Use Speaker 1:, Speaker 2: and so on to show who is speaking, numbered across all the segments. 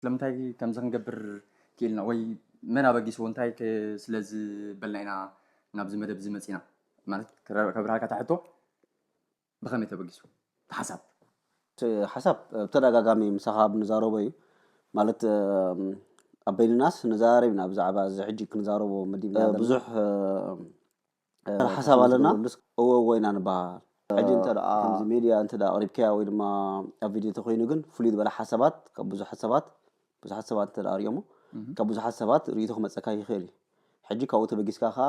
Speaker 1: ስለምንታይ ከምዚ ክንገብር ክኢልና ወይ መን ኣበጊስዎ እንታይ ከ ስለ ዝበልና ኢና ናብዚ መደብ እዚ መጺና ማለት ከብርሃልካ እታ ሕቶ ብኸመይ ተበጊሱ እቲ ሓሳብ? እቲ ሓሳብ
Speaker 2: ብተደጋጋሚ ምሳኻ ኣብ ንዛረቦ እዩ ማለት ኣብ በይንናስ ንዘራረብ ኢና ብዛዕባ እዚ ሕጂ ክንዛረቦ መዲብና ብዙሕ ሓሳብ ኣለና እወ እወ ኢና ንበሃል ሕጂ እንተ ከምዚ ሜድያ እንተ ኣቕሪብካያ ወይ ድማ ኣብ ቪድዮ እንተኮይኑ ግን ፍሉይ ዝበለ ሓሳባት ካብ ብዙሓት ሰባት ብዙሓት ሰባት እንተ ኣርእዮሞ ካብ ብዙሓት ሰባት ርእይቶ ክመፀካ ይኽእል እዩ ሕጂ ካብኡ ተበጊስካ ከዓ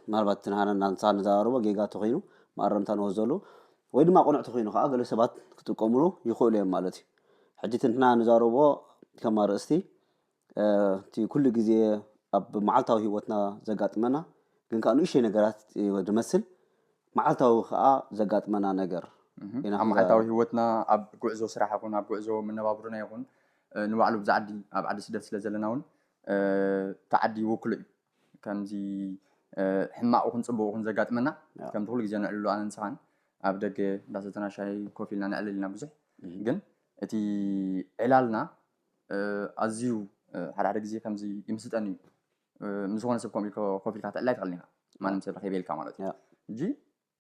Speaker 2: ምናልባት ትንሃነ እናንሳ ንዘራርቦ ጌጋ ተኮይኑ መኣረምታ ንወዘሉ ወይ ድማ ቅኑዕ ተኮይኑ ከዓ ገለ ሰባት ክጥቀምሉ ይኽእሉ እዮም ማለት እዩ ሕጂ ትንትና ንዛረቦ ከም ኣርእስቲ እቲ ኩሉ ግዜ ኣብ መዓልታዊ ህይወትና ዘጋጥመና ግን ከኣ ንእሽተይ ነገራት ዝመስል መዓልታዊ ከኣ ዘጋጥመና ነገር ኢና ኣብ ክንዛ መዓልታዊ
Speaker 1: ህይወትና ኣብ ጉዕዞ ስራሕ ይኹን ኣብ ጉዕዞ መነባብሮና ይኹን ንባዕሉ ኣብዚ ዓዲ ኣብ ዓዲ ስደት ስለ ዘለና ውን እቲ ዓዲ ይውክሎ እዩ። ከምዚ ሕማቕ ይኹን ጽቡቕ ይኹን ዘጋጥመና ያ ከምቲ ኩሉ ግዜ ነዕልሎ ኣነን ንስኻን ኣብ ደገ እንዳሰተና ሻሂ ኮፍ ኢልና ነዕልል ኢና ብዙሕ እህ። ግን እቲ ዕላልና ኣዝዩ ሓደ ሓደ ግዜ ከምዚ ይምስጠኒ እዩ ምስ ዝኾነ ሰብ ከምኡ ኢልካ ኮፍ ኢልካ ትዕላይ ትኽእል ኢኻ ማንም ሰብ ረኺበ ኢልካ ማለት እዩ እጂ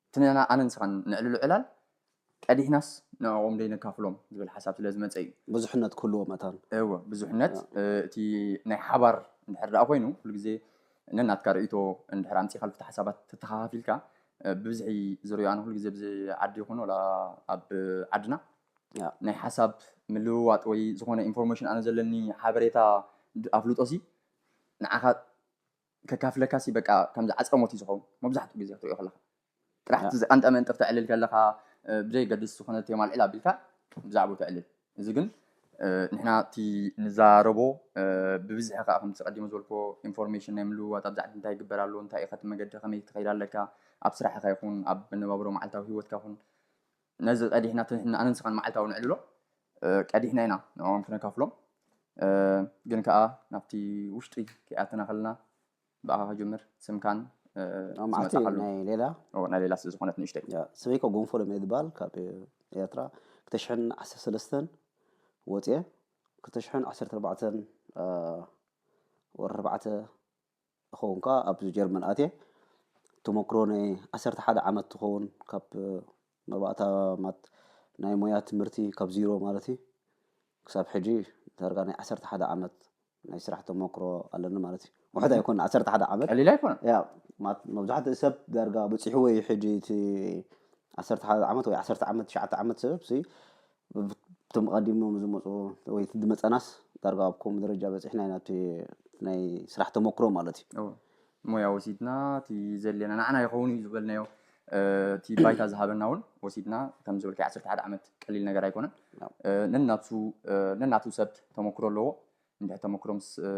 Speaker 1: እቲ ንሕና ኣነ ንስኻን ነዕልሎ ዕላል ቀዲሕናስ ንዕኦም ደይነካፍሎም ዝብል ሓሳብ ስለ ዝመፀ እዩ ብዙሕነት ክህልዎ መታን
Speaker 2: እወ ብዙሕነት
Speaker 1: እቲ ናይ ሓባር እንድሕር ደኣ ኮይኑ ኩሉ ግዜ ነናትካ ርእይቶ እንድሕር ኣምፂእኻ ልፍቲ ሓሳባት ተተኻኻፊልካ ብብዝሒ ዝርእዮ ኣነ ኩሉ ግዜ ብዚ ዓዲ ይኹን ወላ ኣብ ዓድና ናይ ሓሳብ ምልውዋጥ ወይ ዝኾነ ኢንፎርሜሽን ኣነ ዘለኒ ሓበሬታ ኣፍልጦሲ ንዓኻ ከካፍለካሲ በቃ ከም ዝዓጽረሞት እዩ ዝኸውን መብዛሕትኡ ግዜ ክትሪኦ ከለኻ ጥራሕ እቲ ዝቀንጠ መንጥር ተዕልል ከለኻ ብዘየገድስ ዝኾነ ቴማ ኣልዕል ኣቢልካ ብዛዕባኡ ተዕልል እዚ ግን ንሕና እቲ ንዛረቦ ብብዝሒ ከዓ ከምቲ ቀዲመ ዝበልክዎ ኢንፎርሜሽን ናይ ምልውዋጥ ኣብ ዛዕባ እንታይ ይግበር ኣሎ እንታይ ኢኸ እቲ መገዲ ከመይ ትኸይድ ኣለካ ኣብ ስራሕኻ ይኹን ኣብ መነባብሮ መዓልታዊ ሂወትካ ይኹን ነዚ ቀዲሕና ትንሕና ኣነ ንስኻን መዓልታዊ ንዕልሎ ቀዲሕና ኢና ንዕኦም ክነካፍሎም ግን ከዓ ናብቲ ውሽጢ ከይኣተና ከለና ብኣኻ ክጅምር ስምካን መዓልቲ
Speaker 2: ናይ ሌላ ናይ ሌላ ስለ ዝኾነት
Speaker 1: ንእሽተይ ስመይኮ ጎንፎ ሎሚ
Speaker 2: ዝባል ካብ ኤርትራ ክልተ ሽሕን ዓሰርተ ሰለስተን ወፅየ ክልተ ሽሕን ዓሰርተ ኣርባዕተን ወርሒ ኣርባዕተ ዝኸውን ከኣ ኣብዚ ጀርመን ኣትየ ተመክሮ ናይ ዓሰርተ ሓደ ዓመት ትኸውን ካብ መባእታ ማት ናይ ሞያ ትምህርቲ ካብ ዚሮ ማለት እዩ ክሳብ ሕጂ ዳርጋ ናይ ዓሰርተ ሓደ ዓመት ናይ ስራሕ ተመክሮ ኣለኒ ማለት እዩ ውሕድ ኣይኮነ ዓሰርተ ሓደ ዓመት ቀሊል ኣይኮነ ያ መብዛሕትኡ ሰብ ዳርጋ በፂሕዎ እዩ ሕጂ እቲ ዓሰርተ ሓደ ዓመት ወይ ዓሰርተ ዓመት ትሽዓተ ዓመት ሰብ እቶም ኣቐዲሞም ዝመፁ ወይ ዝመፀናስ ዳርጋ ኣብ ከምኡ ደረጃ በፂሕና ኢና እቲ ናይ ስራሕ ተመክሮ ማለት እዩ እወ ሞያ
Speaker 1: ወሲድና እቲ ዘድልየና ንዓና ይኸውን እዩ ዝበልናዮ እ፣ እቲ ባይታ ዝሃበና እውን ወሲድና ከም ዝበልካዮ ዓሰርተ ሓደ ዓመት ቀሊል ነገር ኣይኮነን እ፣ ነናቱ እ፣ ነናቱ ሰብ ተመክሮ ኣለዎ እንድሕር ተመክሮ ምስ እ፣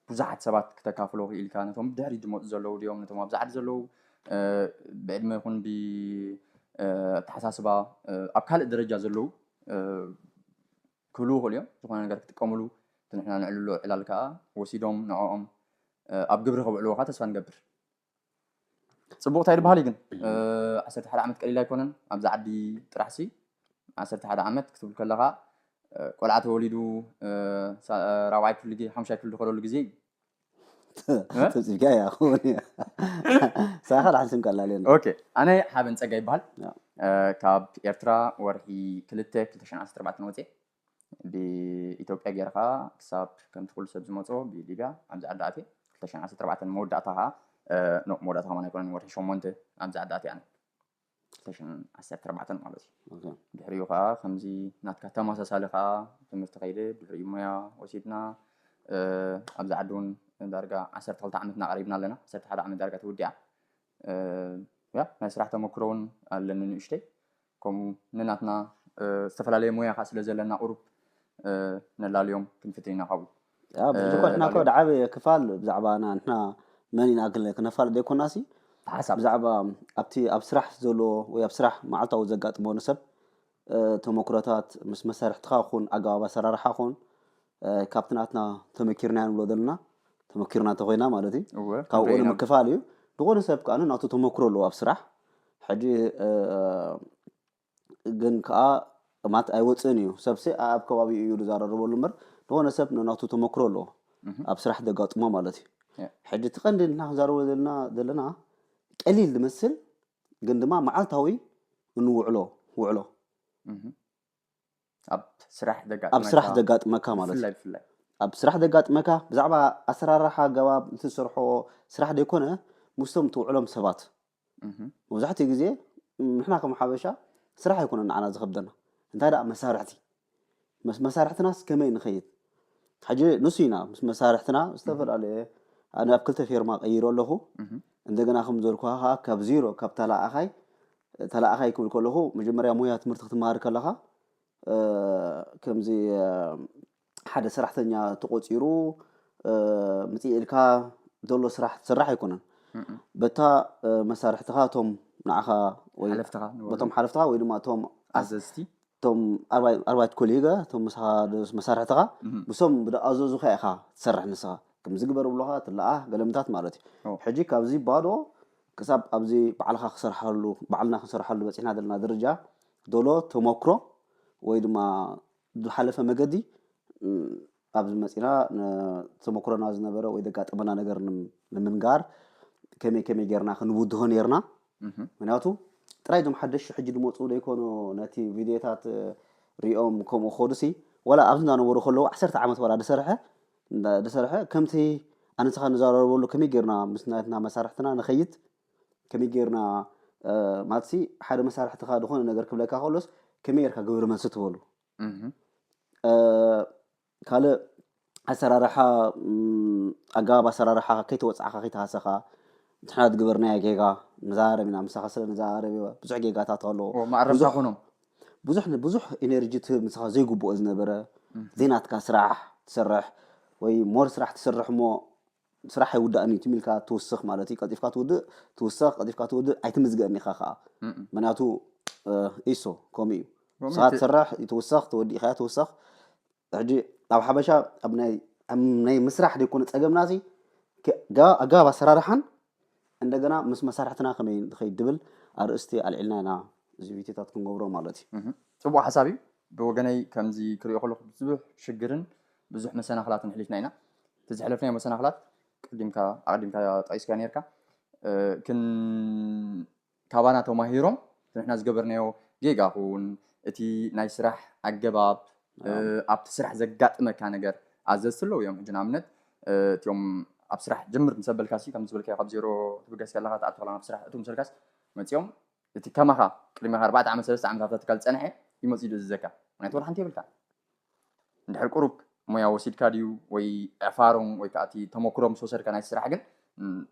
Speaker 1: ብዙሓት ሰባት ክተካፍሎ ክኢልካ ነቶም ብድሕሪት ዝመጹ ዘለዉ ድዮም ነቶም ኣብዛ ዓዲ ዘለዉ ብዕድመ ይኹን ብኣተሓሳስባ ኣብ ካልእ ደረጃ ዘለዉ ክህልዉ ይኽእሉ እዮም ዝኾነ ነገር ክጥቀምሉ እቲ ንሕና ነዕልሎ ዕላል ከዓ ወሲዶም ንዕኦም ኣብ ግብሪ ከብዕልዎ ከዓ ተስፋ ንገብር ፅቡቅ እንታይ ድበሃል እዩ ግን ዓሰርተ ሓደ ዓመት ቀሊል ኣይኮነን ኣብዚ ዓዲ ጥራሕ ሲ ዓሰርተ ሓደ ዓመት ክትብል ከለካ ቆልዓ ተወሊዱ ራብዓይ ክፍሊ ሓሙሻይ ክፍሊ ዝኸደሉ ግዜ እዩ ጽብጽብካ
Speaker 2: እያ ክኸውን እያ ሳኻ ልሓንስም ቀላል እየ ኦኬ ኣነ ሓበን
Speaker 1: ጸጋ ይበሃል ካብ ኤርትራ ወርሒ ክልተ ክልተ ሽዓን ዓሰርተ ኣርባዕተን ወፅየ ብኢትዮጵያ ጌረ ከኣ ክሳብ ከምቲ ኩሉ ሰብ ዝመጾ ብሊብያ ኣብዚ ዓዲ ኣትየ ክልተ ሽሕን ዓሰርተ ኣርባዕተን መወዳእታ ከኣ ኖእ መወዳእታ ከማን ኣይኮነን ወርሒ ሸሞንተ ኣብዚ ዓዲ ኣትየ ኣነ ክልተ ሽሕን ዓሰርተ ኣርባዕተን ማለት እዩ ኦኬ ድሕሪኡ ከዓ ከምዚ ናትካ ተመሳሳሊ ከዓ ትምህርቲ ከይደ ድሕሪኡ ሞያ ወሲድና እ፣ ኣብዚ ዓዲ እውን ዳርጋ ዓሰርተ ክልተ ዓመትና ቀሪብና ኣለና ዓሰርተ ሓደ ዓመት ዳርጋ ተወዲዓ እ፣ ያ ናይ ስራሕ ተመክሮ እውን ኣለኒ ንእሽተይ ከምኡ ንናትና ዝተፈላለየ ሞያ ከኣ ስለ ዘለና ቁሩብ ነላልዮም ክንፍትን ኢና ካብኡ። ያብ ዝኾነ
Speaker 2: እኮ ድዓበየ ክፋል ብዛዕባ ንሕና መን ኢና ክለ ክነፋልጥ ዘይኮናሲ ሓሳብ ብዛዕባ
Speaker 1: ኣብቲ
Speaker 2: ኣብ ስራሕ ዘሎ ወይ ኣብ ስራሕ መዓልታዊ ዘጋጥሞ ንሰብ ተመኩሮታት ምስ መሳርሕትኻ ኩን ኣገባብ ኣሰራርሓ ኩን ካብቲ ናትና ተመኪርናዮ ንብሎ ዘለና ተመኪርና እንተኾይና ማለት እዩ እወ ካብኡ ክንደይ ኢና- ንምክፋል እዩ ዝኾነ ሰብ ከዓ ናቱ ተመክሮ ኣለዎ ኣብ ስራሕ ሕጂ እ፣ ግን ከዓ ማለት ኣይወፅእን እዩ ሰብሲ ኣብ ከባቢኡ እዩ ዝዘራረበሉ እምበር ዝኾነ ሰብ ናቱ ተመክሮ ኣለዎ ኣብ ስራሕ ዘጋጥሞ ማለት እዩ ያ። ሕጂ እቲ ቀንዲ ንሕና ክንዛረቦ ዘለና ዘለና ቀሊል ዝመስል ግን ድማ መዓልታዊ እንውዕሎ ውዕሎ እህ፣
Speaker 1: ኣብ ስራሕ ዘጋጥመካ ኣብ ስራሕ ዘጋጥመካ ማለት
Speaker 2: እዩ። ብፍላይ ብፍላይ ኣብ ስራሕ ዘጋጥመካ ብዛዕባ ኣሰራርሓ ኣገባብ እቲ ዝሰርሖ ስራሕ ዘይኮነ ምስቶም ትውዕሎም ሰባት እህ፣ መብዛሕትኡ ግዜ ም፣ ንሕና ከም ሓበሻ ስራሕ ኣይኮነን ንዓና ዝኸብደና እንታይ ደኣ መሳርሕቲ መስ መሳርሕትናስ ከመይ ንኸይድ ሕጂ ንሱ ኢና ምስ መሳርሕትና ዝተፈላለየ ኣነ ኣብ ክልተ ፌርማ ቀይረ ኣለኹ እህ፣ እንደገና ከም ዘልኩኻ ከዓ ካብ ዜሮ ካብ ተላኣኣኻይ ተላኣኻይ ክብል ከለኹ መጀመርያ ሞያ ትምህርቲ ክትመሃር ከለኻ ከምዚ ሓደ ሰራሕተኛ ተቖጺሩ ምጽእ ኢልካ ዘሎ ስራሕ ትስራሕ ኣይኮነን በታ መሳርሕትኻ እቶም ንዓኻ ወይ ሓለፍትኻ ንበሉ። በቶም ሓለፍትኻ ወይ ድማ እቶም ኣዘዝቲ
Speaker 1: እቶም
Speaker 2: ኣርባይ- ኣርባይት ኮሊጋ እቶም ምሳኻ ደስ- መሳርሕትኻ ብሶም ብደኣዘዙኻ ኢኻ ትሰርሕ ንስኻ ከምዚ ግበር ብሎኻ ትለኣህ ገለምታት ማለት እዩ ሕጂ ካብዚ ባዶ ክሳብ ኣብዚ ባዕልኻ ክሰርሓሉ ባዕልና ክንሰርሓሉ በጺሕና ዘለና ደረጃ ዶሎ ተሞክሮ ወይ ድማ ዝሓለፈ መገዲ ኣብዚ መጺና ተሞክሮና ዝነበረ ወይ ዘጋጠመና ነገር ንምንጋር ከመይ ከመይ ጌርና ክንውድሆ ነርና ምክንያቱ ጥራይ እዞም ሓደሽቲ ሕጂ ዝመፁ ዘይኮኑ ነቲ ቪድዮታት ሪኦም ከምኡ ክኸዱሲ ዋላ ኣብዚ እንዳነበሩ ከለዉ ዓሰርተ ዓመት ዋላ ዝሰርሐ እንዳ ድሰርሐ ከምቲ ኣነ ንስኻ ንዛረበሉ ከመይ ጌርና ምስ ናትና መሳርሕትና ንኸይድ ከመይ ጌርና ማለትሲ ሓደ መሳርሕትኻ ዝኾነ ነገር ክብለካ ከሎስ ከመይ ጌርካ ግብሪ መልሲ ትበሉ ካልእ ኣሰራርሓ ኣገባብ ኣሰራርሓ ከይተወፅዕኻ ከይተሃሰኻ ንሕና ዝገበርናዮ ጌጋ ንዘራረብ ኢና ምሳኻ ስለ ንዘራረብ ብዙሕ ጌጋታት ኣለዎ መኣረምታ ኮኖም
Speaker 1: ብዙሕ ንብዙሕ
Speaker 2: ኢነርጂ ትህብ ንስኻ ዘይግብኦ ዝነበረ ዘይናትካ ስራሕ ትሰርሕ ወይ ሞር ስራሕ ትሰርሕ እሞ ስራሕ ኣይውዳእን እዩ ትም ኢልካ ትውስኽ ማለት እዩ ቀልጢፍካ ትውድእ ትውሰኽ ቀልጢፍካ ትውድእ ኣይትምዝገእን ኢኻ ከዓ ምክንያቱ ኢሶ ከምኡ እዩ ንስኻ ትሰርሕ ትውሰኽ ተወዲእካያ ትውሰኽ ሕጂ ኣብ ሓበሻ ኣብ ናይ ናይ ምስራሕ ደይኮነ ጸገምና እዚ ኣገባብ ኣሰራርሓን እንደገና ምስ መሳርሕትና ከመይ ንኸይድ ድብል ኣርእስቲ ኣልዒልና ኢና እዚ ቪድዮታት ክንገብሮ ማለት እዩ። ጽቡቕ ሓሳብ እዩ።
Speaker 1: ብወገነይ ከምዚ ክሪኦ ከለኹ ብዙሕ ሽግርን ብዙሕ መሰናኽላትን ኣሕሊፍና ኢና። እቲ ዘሕለፍናዮ መሰናኽላት ቀዲምካ ኣቐዲምካ ጠቒስካዮ ኔርካ። ክን ካባና ተማሂሮም ንሕና ዝገበርናዮ ጌጋ ኹን እቲ ናይ ስራሕ ኣገባብ ኣብቲ ስራሕ ዘጋጥመካ ነገር ኣዘዝቲ ኣለዉ እዮም ሕጂ ንኣብነት እትኦም ኣብ ስራሕ ጀምር ምስ ኣበልካሲ ከምዚ ዝበልካዮ ካብ ዜሮ ትብገስ ከለኻ ትኣቱ ከለኻ ናብ ስራሕ እትው ምስ በልካስ መጺኦም እቲ ከማኻ ቅድሚኻ ኣርባዕተ ዓመት ሰለስተ ዓመት ኣብታ ትካል ዝጸንሐ እዩ መጺኡ ዝእዝዘካ ምክንያቱ ወላ ሓንቲ የብልካን እንድሕር ቁሩብ ሞያ ወሲድካ ድዩ ወይ ዕፋሮም ወይ ከዓ እቲ ተመኩሮ ምስ ወሰድካ ናይ ስራሕ ግን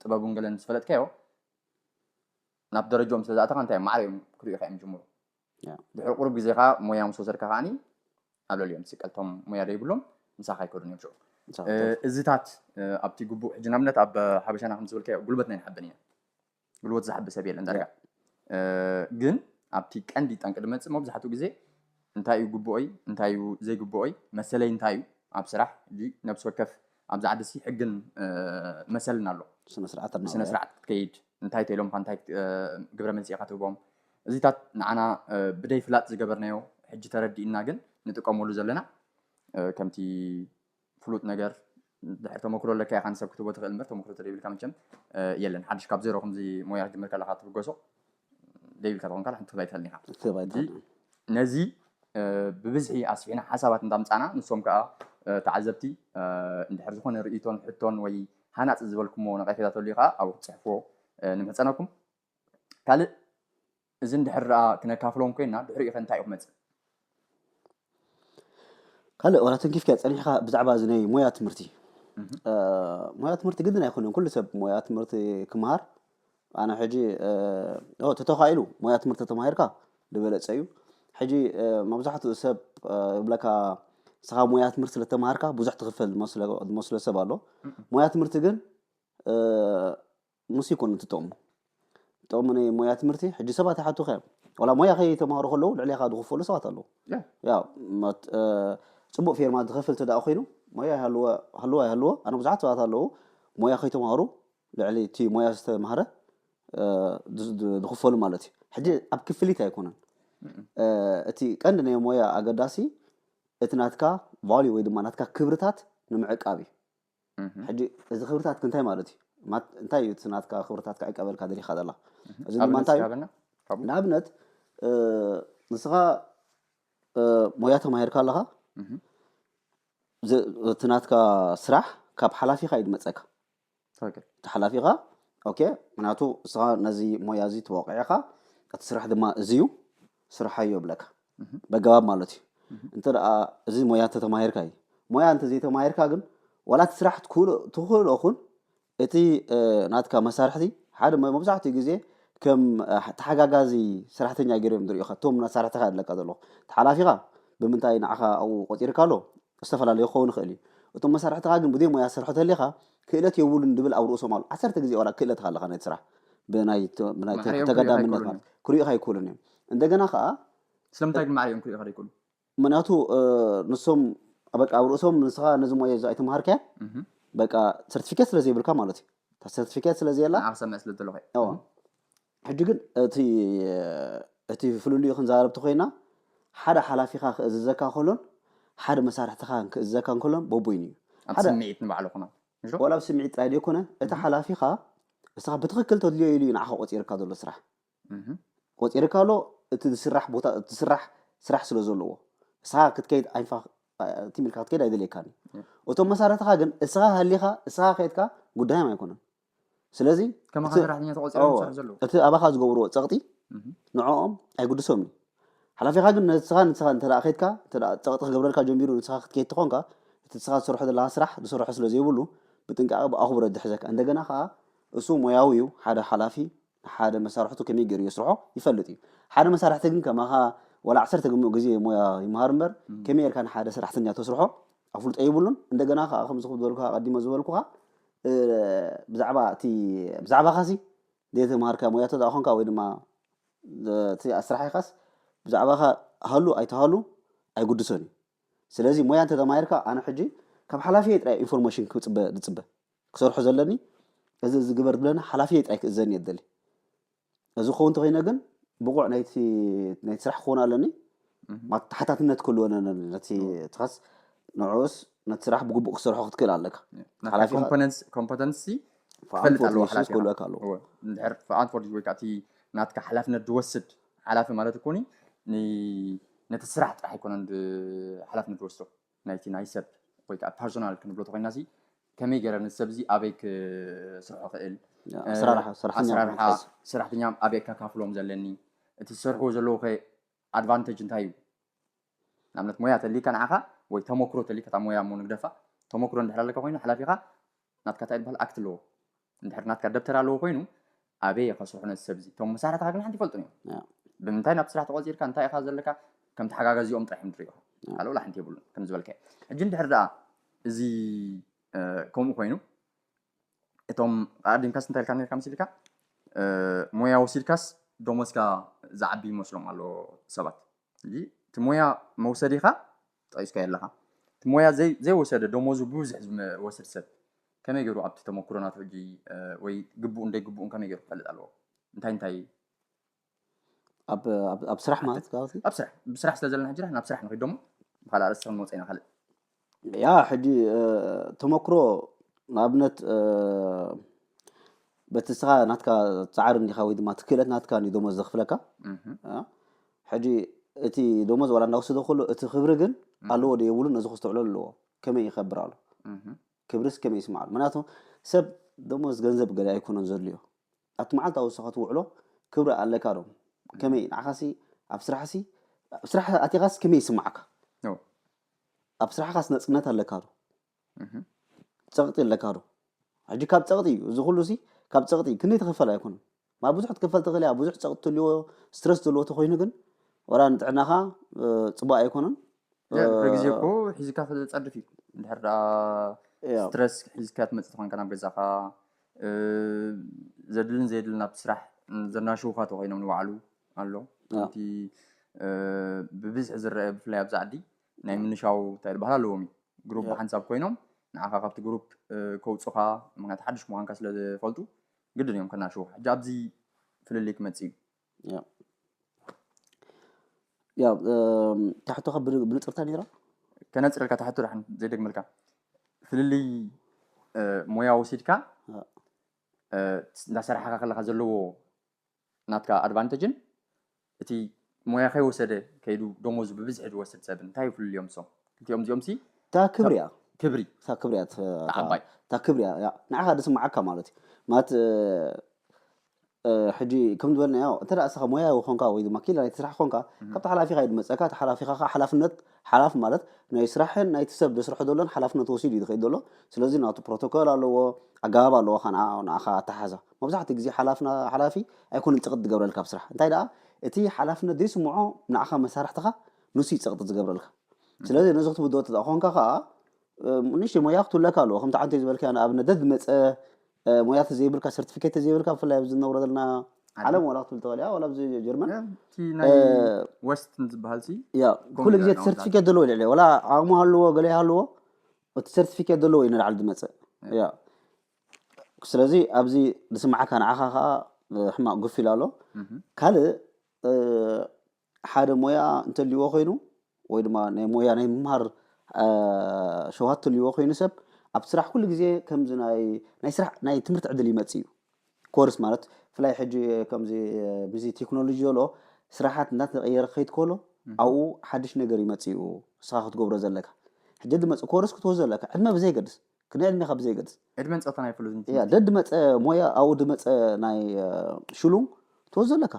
Speaker 1: ጥበቡን ገለን ምስ ፈለጥካዮ ናብ ደረጃኦም ስለ ዝኣተኻ እንታይ ማዕረ እዮም ክሪኡኻ እዮም ዝጅምሩ ድሕሪ ቁሩብ ግዜ ከዓ ሞያ ምስ ወሰድካ ከዓኒ ኣብ ልዕሊኦም ትስቀል እቶም ሞያ ዘይብሎም ምሳኻ ኣይከዱን እዮም ሽዑ እዚታት ኣብቲ ግቡእ ሕጂ ንኣብነት ኣብ ሓበሻና ከም ዝበልካዮ ጉልበት ናይ ንሓበን ኢና ጉልበት ዝሓቢ ሰብ የለን ዳርጋ ግን ኣብቲ ቀንዲ ጠንቂ ድመፅእ መብዛሕትኡ ግዜ እንታይ እዩ ግቡኦይ እንታይ እዩ ዘይግቡኦይ መሰለይ እንታይ እዩ ኣብ ስራሕ ሕጂ ነብሲ ወከፍ ኣብዚ ዓዲሲ ሕግን መሰልን ኣሎ ብስነስርዓት ክትከይድ እንታይ ተኢሎምካ እንታይ ግብረ መልሲ ኢካ ትህቦም እዚታት ንዓና ብደይ ፍላጥ ዝገበርናዮ ሕጂ ተረዲእና ግን ንጥቀመሉ ዘለና ከምቲ ፍሉጥ ነገር ድሕሪ ተመክሮ ኣለካ ኢኻ ንሰብ ክትህቦ ትኽእል እምበር ተመክሮ ተዘይብልካ መቸም የለን ሓድሽ ካብ ዜሮ ከምዚ ሞያ ክትጅምር ከለኻ ትብገሶ ዘይብልካ ተኾንካ ንሓንቲ ክትህብ ኣይትኽእልን ኢኻ ክትህብ ኣይትኽእልን ነዚ ብብዝሒ ኣስፊሕና ሓሳባት እንዳምጻና ንሶም ከኣ ተዓዘብቲ እንድሕር ዝኾነ ርእይቶን ሕቶን ወይ ሃናጺ ዝበልኩሞ ነቐፌታ ተልዩ ከኣ ኣብኡ ክትጽሕፍዎ ንምሕጸነኩም ካልእ እዚ እንድሕር ደኣ ክነካፍሎም ኮይና ድሕሪኡኸ እንታይ እዩ ክመጽእ?
Speaker 2: ካልእ ዋላ ተንኪፍካዮ ጸኒሕካ ብዛዕባ እዚ ናይ ሞያ ትምህርቲ ሞያ ትምህርቲ ግድን ኣይኮነን ኩሉ ሰብ ሞያ ትምህርቲ ክምሃር ኣነ ሕጂ ተተኻኢሉ ሞያ ትምህርቲ ተማሂርካ ዝበለጸ እዩ ሕጂ መብዛሕትኡ ሰብ ይብለካ ንስኻ ሞያ ትምህርቲ ስለተማሃርካ ብዙሕ ትኽፈል ዝመስሎ ሰብ ኣሎ ሞያ ትምህርቲ ግን ንሱ ኣይኮነን እቲ ጥቕሙ። ጥቕሚ ናይ ሞያ ትምህርቲ ሕጂ ሰባት ይሓቱኻ እዮም ዋላ ሞያ ከይተማሃሩ ከለዉ ልዕሌኻ ዝኽፈሉ ሰባት ኣለዉ ያው ፅቡቅ ፌርማ ዝኸፍል እንተደኣ ኮይኑ ሞያ ይሃልዎ ሃልዎ ኣይሃልዎ ኣነ ብዙሓት ሰባት ኣለዉ ሞያ ከይተማሃሩ ልዕሊ እቲ ሞያ ዝተማሃረ ዝኽፈሉ ማለት እዩ ሕጂ ኣብ ክፍሊት ኣይኮነን እቲ ቀንዲ ናይ ሞያ ኣገዳሲ እቲ ናትካ ቫልዩ ወይ ድማ ናትካ ክብርታት ንምዕቃብ እዩ ሕጂ እዚ ክብርታትክ እንታይ ማለት እዩ? እንታይ እዩ እቲ ናትካ ክብርታት ክዕቀበልካ ደሊኻ ዘላ? እዚ ድማ እንታይ እዩ? ንኣብነት ንስኻ ሞያ ተማሂርካ ኣለኻ፣ እቲ ናትካ ስራሕ ካብ ሓላፊኻ እዩ ዝመፀካ። እቲ ሓላፊኻ ኦኬ፣ ምክንያቱ ንስኻ ነዚ ሞያ እዚ ተወቂዕኻ እቲ ስራሕ ድማ እዚ እዩ፣ ስርሓዮ ይብለካ በገባብ ማለት እዩ እንተ እዚ ሞያ እንተተማሂርካ እዩ ሞያ እንተዘይተማሂርካ ግን ዋላ እቲ ስራሕ ትኽእሎ ኹን እቲ ናትካ መሳርሕቲ ሓደ መብዛሕትኡ ግዜ ከም ተሓጋጋዚ ሰራሕተኛ ገይሩ እዮም ዝሪኦኻ እቶም መሳርሕትኻ ኣለካ ዘለኹ ተሓላፊኻ ብምንታይ ንዓኻ ኣብኡ ቆፂርካ ኣሎ ዝተፈላለዩ ክኸውን ይኽእል እዩ እቶም መሳርሕትኻ ግን ብዘይ ሞያ ዝሰርሑ ተሊኻ ክእለት የቡሉን ድብል ኣብ ርእሶም ኣሎ ዓሰርተ ግዜ ዋላ ክእለት ኣለካ ነቲ ስራሕ ብናይ ብናይ ተጋዳምነት ማለት ክሪኡካ ኣይክእሉን እዮም እንደገና ከዓ ስለምንታይ ግን
Speaker 1: ማዕሪኦም ክሪኡካ ዘይክእሉ ምክንያቱ
Speaker 2: ንሶም በቃ ኣብ ርእሶም ንስኻ ነዚ ሞያ እዚ ኣይተምሃርካያ በቃ ሰርቲፊኬት ስለ ዘይብልካ ማለት እዩ ሰርቲፊኬት ስለ ዘየላ ንዓኽ ሰምዕ ስለ ዘለኹ ሕጂ ግን እቲ እቲ ፍልልዩ ክንዛረብ ተኾይና ሓደ ሓላፊኻ ክእዝዘካ ከሎን ሓደ መሳርሕትኻ ክእዝዘካ ከሎን በቡይኑ እዩ። ኣብ ሓደ ስምዒት ንባዕሉ
Speaker 1: ኩናት እሾ ወላ ኣብ ስምዒት
Speaker 2: ጥራይ ደይኮነ እቲ እህ ሓላፊኻ ንስኻ ብትኽክል ተድልዮ ኢሉ እዩ ንዓኻ ቆጺርካ ዘሎ ስራሕ እህ ቆጺርካ ኣሎ እቲ ዝስራሕ ቦታ እቲ ዝስራሕ ስራሕ ስለ ዘለዎ ንስኻ ክትከይድ ኣይንፋ ኣእ ትም ኢልካ ክትከይድ ኣይደልየካን እዩ። እህ እቶም መሳርሕትኻ ግን እስኻ ሃሊኻ እስኻ ከይድካ ጉዳዮም ኣይኮነን። ስለዚ ከማኻ እቲ- ሰራሕተኛ
Speaker 1: ተቖፂሮም እዎ፣ ዝሰርሑ ዘለዉ እቲ ኣባኻ ዝገብርዎ ፀቕጢ
Speaker 2: እህ። ንዕኦም ኣይጉድሶምን እዩ ሓላፊኻ ግን ንስኻ ንስኻ እንተ ከድካ እንተ ፀቕጢ ክገብረልካ ጀሚሩ ንስኻ ክትከይድ ተኾንካ እቲ ንስኻ ትሰርሖ ዘለኻ ስራሕ ዝሰርሖ ስለ ዘይብሉ ብጥንቃቐ ብኣኹብሮት ዝሕዘካ እንደገና ኸኣ እሱ ሞያዊ እዩ ሓደ ሓላፊ ሓደ መሳርሕቱ ከመይ ጌሩ የስርሖ ይፈልጥ እዩ። ሓደ መሳርሕቲ ግን ከማኻ ዋላ ዓሰርተ ግሙእ ግዜ ሞያ ይምሃር እምበር ከመይ ጌርካ ንሓደ ሰራሕተኛ ተስርሖ ኣፍልጦ የብሉን። እንደገና ከኣ ከምዚ ክብ ዝበልኩኻ ኣቐዲመ ዝበልኩኻ ብዛዕባ እቲ ብዛዕባኻሲ ዘይተምሃርካዮ ሞያ እንተ ኾንካ ወይ ድማ እቲ ኣስራሒኻስ ብዛዕባኻ ሃሉ ኣይትሃሉ ኣይጉድሶን እዩ። ስለዚ ሞያ እንተ ተማሂርካ ኣነ ሕጂ ካብ ሓላፊየይ ጥራይ ኢንፎርሜሽን ክጽበ ዝጽበ ክሰርሖ ዘለኒ እዚ እዚ ግበር ዝብለኒ ሓላፊየይ ጥራይ ክእዘኒ እየ ዝደሊ እዚ ክኸውን እንተኮይነ ግን ብቑዕ ናይቲ ናይቲ ስራሕ ክኸውን ኣለኒ ማለት ተሓታትነት ክህልወነ ነቲ ትኻስ ንዕኡስ ነቲ ስራሕ ብግቡእ ክሰርሖ ክትክእል ኣለካ
Speaker 1: ኮምፐተንሲ ክፈልጥ ኣለዎ ሓላፊ ክህልወካ ኣለዎ
Speaker 2: እንድሕር ፍቓድ
Speaker 1: ፎርጅ ወይ ከዓ እቲ ናትካ ሓላፍነት ዝወስድ ሓላፊ ማለት እኮኒ ነቲ ስራሕ ጥራሕ ኣይኮነን ሓላፍነት ዝወስዶ ናይቲ ናይ ሰብ ወይ ከኣ ፐርሶናል ክንብሎ ተኾይናሲ ከመይ ገረ ነዚ ሰብ እዚ ኣበይ ክስርሖ ክእል ኣሰራርሓ ሰራሕተኛ ኣበይ ከካፍሎም ዘለኒ እቲ ዝሰርሕዎ ዘለዉ ከ ኣድቫንተጅ እንታይ እዩ ንኣብነት ሞያ ተልይካ ንዓኻ ወይ ተመክሮ ተልይካ እታ ሞያ እሞ ንግደፋ ተመክሮ እንድሕር ኣለካ ኮይኑ ሓላፊኻ ናትካ ታይ ዝበሃል ኣክት ኣለዎ እንድሕር ናትካ ደብተር ኣለዎ ኮይኑ ኣበይ እየ ከስርሑ ነዚ ሰብ እዚ እቶም መሳርሕትኻ ግን ሓንቲ ይፈልጡን እዮም ብምንታይ ናብቲ ስራሕ ተቖፂርካ እንታይ ኢኻ ዘለካ ከም ተሓጋጋዚኦም ጥራሕ እዮም ዝሪእኻ ካልእ ወላ ሓንቲ የብሉን ከም ዝበልካዮ ሕጂ እንድሕር ደኣ እዚ ከምኡ ኮይኑ እቶም ኣዲምካስ እንታይ ኢልካ ነርካ መሲልካ ሞያ ወሲድካስ ደሞዝካ ዝዓቢ ይመስሎም ኣሎ ሰባት እዚ እቲ ሞያ መውሰዲኻ ጠቂስካዮ ኣለኻ እቲ ሞያ ዘይወሰደ ደሞዙ ብብዙሕ ዝወስድ ሰብ ከመይ ገሩ ኣብቲ ተመኩሮ ናቱ ሕጂ ወይ ግቡኡን ደይግቡኡን ከመይ ገሩ ክፈልጥ ኣለዎ እንታይ እንታይ
Speaker 2: ኣብ ስራሕ ማለት ኣብ ስራሕ ብስራሕ
Speaker 1: ስለ ዘለና ሕጂ ናብ ስራሕ ንኺድ ደሞ ብካልእ ኣርእስቲ ክንመፅ ኢና ካልእ ያ
Speaker 2: ሕጂ ተመኩሮ ንኣብነት በቲ ንስኻ ናትካ ጻዕሪ እንዲኻ ወይ ድማ እቲ ክእለት ናትካ እንዲዩ ደሞዝ ዘኽፍለካ ሕጂ እቲ ደሞዝ ዋላ እንዳወሰደ ከሎ እቲ ክብሪ ግን ኣለዎ ዶ የብሉን ነዚ ክስተውዕሎ ኣለዎ ከመይ ይኸብር ኣሎ ክብርስ ከመይ ይስማዕ ኣሎ ምክንያቱ ሰብ ደሞዝ ገንዘብ ገለ ኣይኮነን ዘድልዮ ኣብቲ መዓልታዊ ውስኻ ትውዕሎ ክብሪ ኣለካ ዶ ከመይ ንዓኻሲ ኣብ ስራሕሲ ኣብ ስራሕ ኣቲኻስ ከመይ ይስማዓካ ኣብ ስራሕኻስ ነፅነት ኣለካ ዶ ጸቕጢ ኣለካ ዶ? ሕጂ ካብ ጸቕጢ እዩ እዚ ኩሉ ሲ ካብ ጸቕጢ ክንደይ ተኸፈለ ኣይኮነን ማለት ብዙሕ ክትከፈል ትኽእል እያ ብዙሕ ጸቕጢ ትልዎ ስትረስ ዘለዎ ተኮይኑ ግን ወላ ንጥዕናኻ ጽቡቅ ኣይኮነን ብግዜ
Speaker 1: እኮ ሒዝካ ክትጸድፍ እዩ እንድሕር ደኣ ስትረስ ሒዝካ ትመጽእ ተኮንካ ናብ ገዛኻ ዘድልን ዘየድልን ኣብ ስራሕ ዘናሽውካ ተኮይኖም ንባዕሉ ኣሎ እቲ ብብዝሒ ዝረአ ብፍላይ ኣብዚ ዓዲ ናይ ምንሻው እንታይ ዝበሃል ኣለዎም እዩ ግሩፕ Yeah. ብሓንሳብ ኮይኖም ንዓኻ ካብቲ ግሩፕ እ፣ ከውፁኻ ምክንያቱ ሓድሽ ምዃንካ ስለ ዝፈልጡ ግድን እዮም ከናሽዎ ሕጂ ኣብዚ ፍልልይ ክመፅእ እዩ ያ
Speaker 2: ያ እም፣ እታ ሕቶኻ ብን- ብንፅርታ ነይራ ከነፅረልካ ተሕቶ
Speaker 1: ዳሕን ዘይደግመልካ ፍልልይ እ፣ ሞያ ወሲድካ ያ። እ፣ እንዳ ሰራሕኻ ከለኻ ዘለዎ ናትካ ኣድቫንተጅን እቲ ሞያ ከይወሰደ ከይዱ ደሞዙ ብብዝሒ ዝወስድ ሰብን እንታይ እዩ ፍልልዮም እሶም ክልቲኦም እዚኦምሲ እታ ክብሪ እያ
Speaker 2: ክብሪ እታ ክብሪ
Speaker 1: እያ እታ
Speaker 2: እታ ዓባይ እታ
Speaker 1: ክብሪ እያ ያ፣
Speaker 2: ንዓኻ ዝስምዓካ ማለት እዩ ማለት እ፣ እ፣ ሕጂ ከም ዝበልናዮ እንተ ደኣ እስኻ ሞያዊ ኾንካ ወይ ድማ ኪኢላ ናይቲ ስራሕ ኾንካ ካብቲ ሓላፊኻ እዩ ዝመጸካ እቲ ሓላፊኻ ከዓ ሓላፍነት ሓላፊ ማለት ናይ ስራሕን ናይቲ ሰብ ዘስርሖ ዘሎን ሓላፍነት ወሲዱ እዩ ዝኸይድ ዘሎ። ስለዚ ናቱ ፕሮቶኮል ኣለዎ፣ ኣገባብ ኣለዎ ካብ ንዓ ንዓኻ ኣተሓሕዛ። መብዛሕትኡ ግዜ ሓላፍና ሓላፊ ኣይኮነን ጸቕጢ ዝገብረልካ ኣብ ስራሕ። እንታይ ደኣ እቲ ሓላፍነት ዘይስምዖ ንዓኻ መሳርሕትኻ ንሱ እዩ ጸቕጢ ዝገብረልካ። ስለዚ ነዚ ክትብድሆ እንተ ኾንካ ከኣ ንእሽተይ ሞያ ክትህሉለካ ኣለዎ። ከምቲ ዓንተይ ዝበልካያ ንኣብነት ደድመጸ ሞያ ተዘይብልካ ሰርቲፊኬት ተዘይብልካ ብፍላይ ኣብዚ ንነብሮ ዘለና ዓለም ዋላ ክትብል ተዋልያ ዋላ ኣብዚ ጀርመን እቲ ናይ
Speaker 1: ወስት ዝበሃል ሲ ያ ኩሉ ግዜ እቲ
Speaker 2: ሰርቲፊኬት ዘለዎ ልዕሊ ዋላ ዓቕሙ ሃልዎ ገለ ይሃልዎ እቲ ሰርቲፊኬት ዘለዎ እዩ ንላዕሊ ዝመፅእ ያ ስለዚ ኣብዚ ዝስምዓካ ንዓኻ ከዓ ሕማቕ ጉፍ ኢላ ኣሎ ካልእ ሓደ ሞያ እንተልዎ ኮይኑ ወይ ድማ ናይ ሞያ ናይ ምምሃር ሸውሃት ትልዎ ኮይኑ ሰብ ኣብ ስራሕ ኩሉ ግዜ ከምዚ ናይ ናይ ስራሕ ናይ ትምህርቲ ዕድል ይመጽእ እዩ ኮርስ ማለት ፍላይ ሕጂ ከምዚ ምስዚ ቴክኖሎጂ ዘሎ ስራሓት እናተቐየረ ክኸይድ ከሎ ኣብኡ ሓድሽ ነገር ይመጽእ እዩ ንስኻ ክትገብሮ ዘለካ ሕጂ ድመጽእ ኮርስ ክትወስዶ ዘለካ ዕድመ ብዘይገድስ ክንደይ ዕድሜኻ ብዘይገድስ ዕድመን ፆታን ኣይፍሉን
Speaker 1: ደድ መፀ
Speaker 2: ሞያ ኣብኡ ድመፀ ናይ ሽሉም ትወስዶ ዘለካ